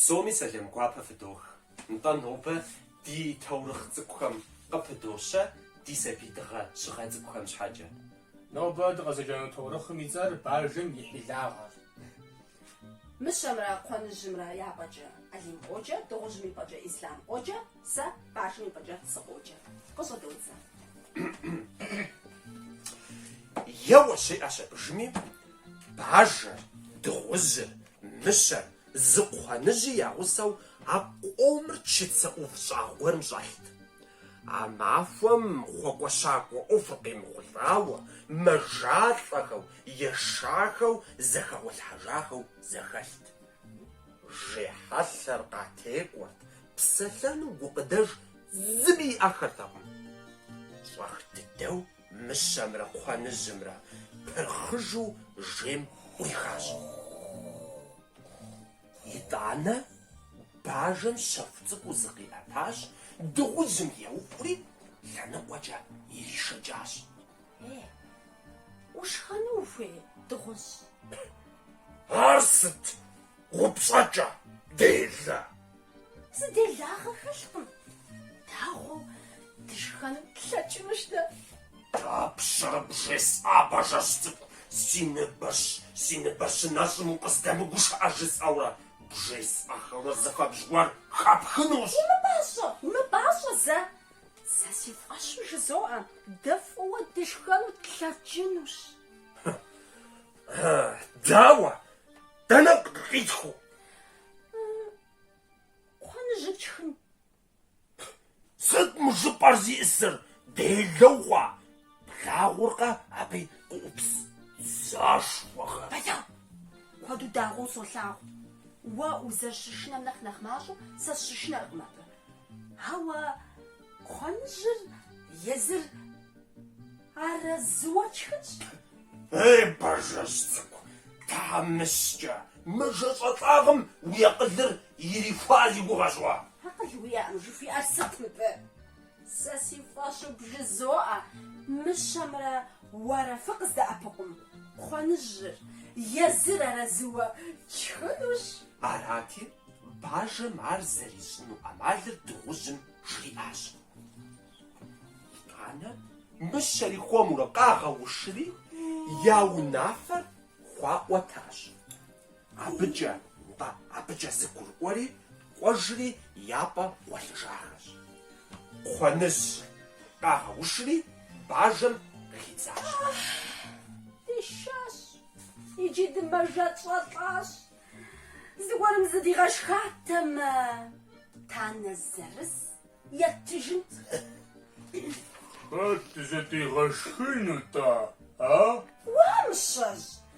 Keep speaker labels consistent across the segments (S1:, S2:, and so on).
S1: Псоми сэлам гуапэ фыдох. Нтӏэ, нобэ ди таурыхъ цӏыкӏухэм къыпыдощэ ди сабий дыгъэ щыгъэ цӏыкӏухэм щхьэкӏэ. Нобэ
S2: дыкъызэджэну таурыхъым и цӏэр Бажэм и хьилагъэр.
S3: Мыщэмрэ Кхъуэныжьымрэ я пӏэкӏэ Алим къоджэ, дыгъужьым и пӏэкӏэ Ислъам къоджэ, сэ бажэм и пӏэкӏэ сыкъоджэ. Къыщӏыдодзэ.
S1: Еуэ, жиӏащ абы жыми, бажэр, дыгъужьыр, мыщэр, зы кхъуэныжьи я гъусэу а къомыр чыцэ ӏув щӏагъ гуэрым щӏэлът. А махуэм хъуэкӏуэщакӏуэ ӏуэхур къемыхъулӏауэ, мэжалӏэхэу, ешахэу, зэхэгъуэлъхьэжахэу зэхэлът. Жей хьэлъэр къатекӏуэрт, псэлъэну гукъыдэж зыми иӏэххэртэкъым. Щӏэх дыдэу мыщэмрэ кхъуэныжьымрэ пырхъыжу жейм ӏурихащ. Итӏанэ бажэм щэху цӏыкӏуу зыкъиӏэтащ, дыгъужьым еуӏури, лъэныкъуэкӏэ иришэкӏащ.
S3: Е, ушхэну ухуей,
S1: дыгъужь? Ар сыт упщӏэкӏэ делэ? Зы
S3: делагъэ хэлъкъым, дагъуэу дышхэну тлъэкӏынущ дэ. Дапщэрэ
S1: бжесӏа, бажэжь цӏыкӏу, си ныбэщ, си ныбэ щынэщӏым укъыздэмыгушыӏэ жысӏэурэ, бжесӏэхэурэ зыхэбжь гуэр хэпхынущ. Умыпӏащӏэ, умыпӏащӏэ
S3: зэ! Сэ си фӏэщу жызоӏэ, дэ фӏыуэ дышхэну
S1: тлъэкӏынущ. Дауэ? Дэнэ къитхыу?
S3: Кхъуэныжьыр тшхын.
S1: Сыт мы жыпӏэр зищӏысыр? Делэ ухъуа? Плъагъуркъэ абы къыӏупс дзэшхуэхэр? Бэлэу!
S3: Куэду дагъуэу солъагъу. Уэ узэрыщышынэм нэхъ нэхъ мащӏэу сэ сыщышынэркъым абы. Ауэ кхъуэныжьыр езыр арэзыуэ тшхынщ. Ей,
S1: бажэжь цӏыкӏу, тхьэмыщкӏэ, мэжэщӏалӏагъэм уи акъылыр Ирихуа си гугъэщ. Уа, акъыл
S3: уиӏэм жыхуиӏэр сыт мыбы? Сэ си фӏэщу бжызоӏэ, мыщэмрэ уэрэ фыкъыздэӏэпыкъум, кхъуэныжьыр, езыр арэзыуэ тшхынущ.
S1: Арати, бажэм ар зэрищӏыну ӏэмалыр дыгъужьым жриӏащ. Итӏанэ мыщэри хуэмурэ къагъэушри, я унафэр хуаӏуэтащ. Абыкӏэ, нтӏэ, абыкӏэ зэгурыӏуэри кӏуэжри япӏэ гъуэлъыжахэщ. Кхъуэныжь къагъэушри бажэм къыхидзащ. Дешащ,
S3: иджы дымэжэщӏэлӏащ. Зыгуэрым зыдигъэшхатэмэ, танэ зырыз еттыжынт. Хэт
S2: зыдигъэшхыну-тӏэ, а?
S3: Уа, мыщэжь,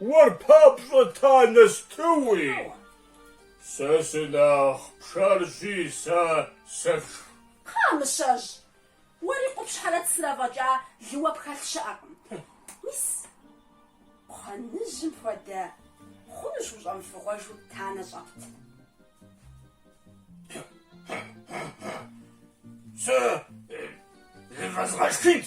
S2: Уэр папщӏэ танэ стыуи? Сэ сынэхъ пшэрщи, сэ сэфшх. Кхъа,
S3: мыщэжь! Уэри къупщхьэрэ цырэ фӏэкӏа лыуэ пхэлъ щыӏэкъым. Мис, кхъуэныжьым хуэдэ хъунущ ущӏэмыфыгъуэжу танэ щӏэпт.
S1: Сэ зывэзгъэшхынт.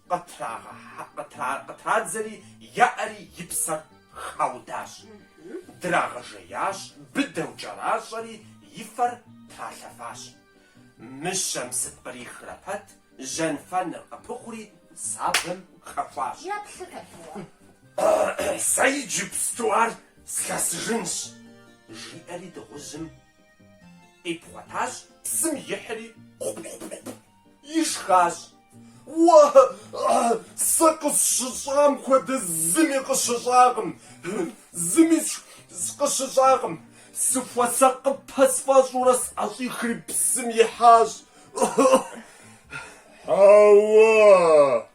S1: Кхъуэныжь къытрадзэри яӏэри и псэр хаудащ. Драгъэжеящ, быдэу кӏэращӏэри и фэр тралъэфащ. Мыщэм сыт кърихрэ пэт, жьэнфэныр къыпыхъури, сабэм хэхуащ. Сэ иджыпсту ар слъэсыжынщ, жиӏэри дыгъужьым къипхъуэтащ, псым ихьри, кхъу-кхъу-кхъу! Ишхащ. Уэ, сэ къысщыщӏам хуэдэ зыми къыщыщӏакъым, зыми къыщыщӏакъым. Сыхуэсакъыпэ сфӏэщӏурэ сӏэщӏихри псым
S4: ихьащ. Ауэ,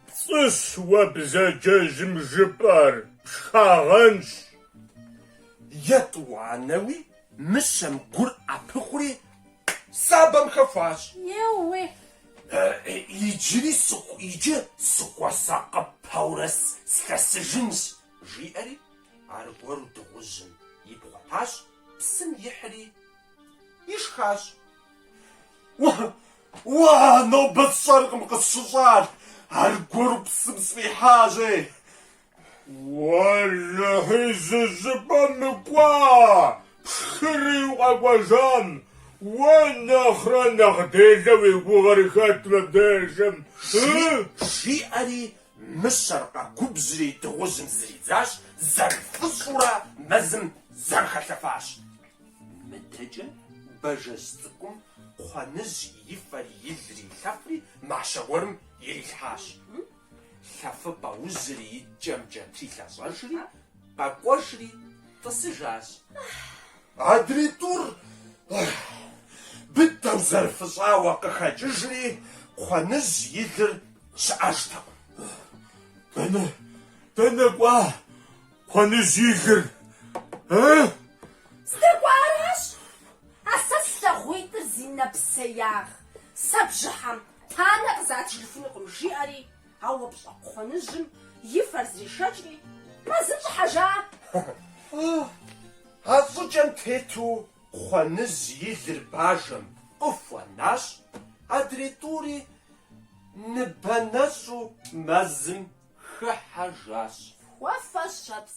S4: пцӏыщ уэ бзаджэжьым жыпӏэр, пшхагъэнщ.
S1: Етӏуанэуи Мыщэм гур ӏэпыхъури, сабэм
S3: хэхуащ. Еууей! Иджыри
S1: сыху, иджы сыхуэсакъыпэурэ слъэсыжынщ, жиӏэри, аргуэру дыгъужьым ипхъуэтащ, псым ихьри ишхащ. Уа, нобэ сщӏэркъым къысщыщӏар, аргуэру псым сфӏихьащ, ей!
S4: Уэлэхьи, зы щӏыпӏэ мыкӏуа, пшхыри укъэкӏуэжам, уэ нэхърэ нэхъ делэ уи гугъэр хэт мыбдежым?
S1: жиӏэри, мыщэр къэгубжьри дыгъужьым зридзащ, зэрыфыщӏурэ мэзым зэрыхэлъэфащ. Мыдэкӏэ бажэжь цӏыкӏум Кхъуэныжь и фэри и лри илъэфри мащэ гуэрым ирилъхьащ. Лъэфыпӏэ ужьри и кӏэмкӏэ трилъэщӏэжри, къэкӏуэжри тӏысыжащ. Адрей тӏур быдэу зэрыфыщӏауэ къыхэкӏыжри, Кхъуэныжь и лыр щыӏэжтэкъым. Дэнэ,
S4: дэнэ кӏуа Кхъуэныжь и лыр, э?
S3: Здэкӏуаращ. А сэ слъагъуитӏыр зи нэпсеягъ. Сэ бжьыхьэм Танэ къызатыжыфынукъым, жиӏэри, а упщӏэ кхъуэныжьым и фэр зришэкӏри, мэзым щӏыхьэжа. Фӏы!
S1: А щӏыкӏэм тету кхъуэныжь и лыр бажэм къыхуэнащ, адрей тӏури ныбэ нэщӏу мэзым хыхьэжащ. Хуэфэщэпс!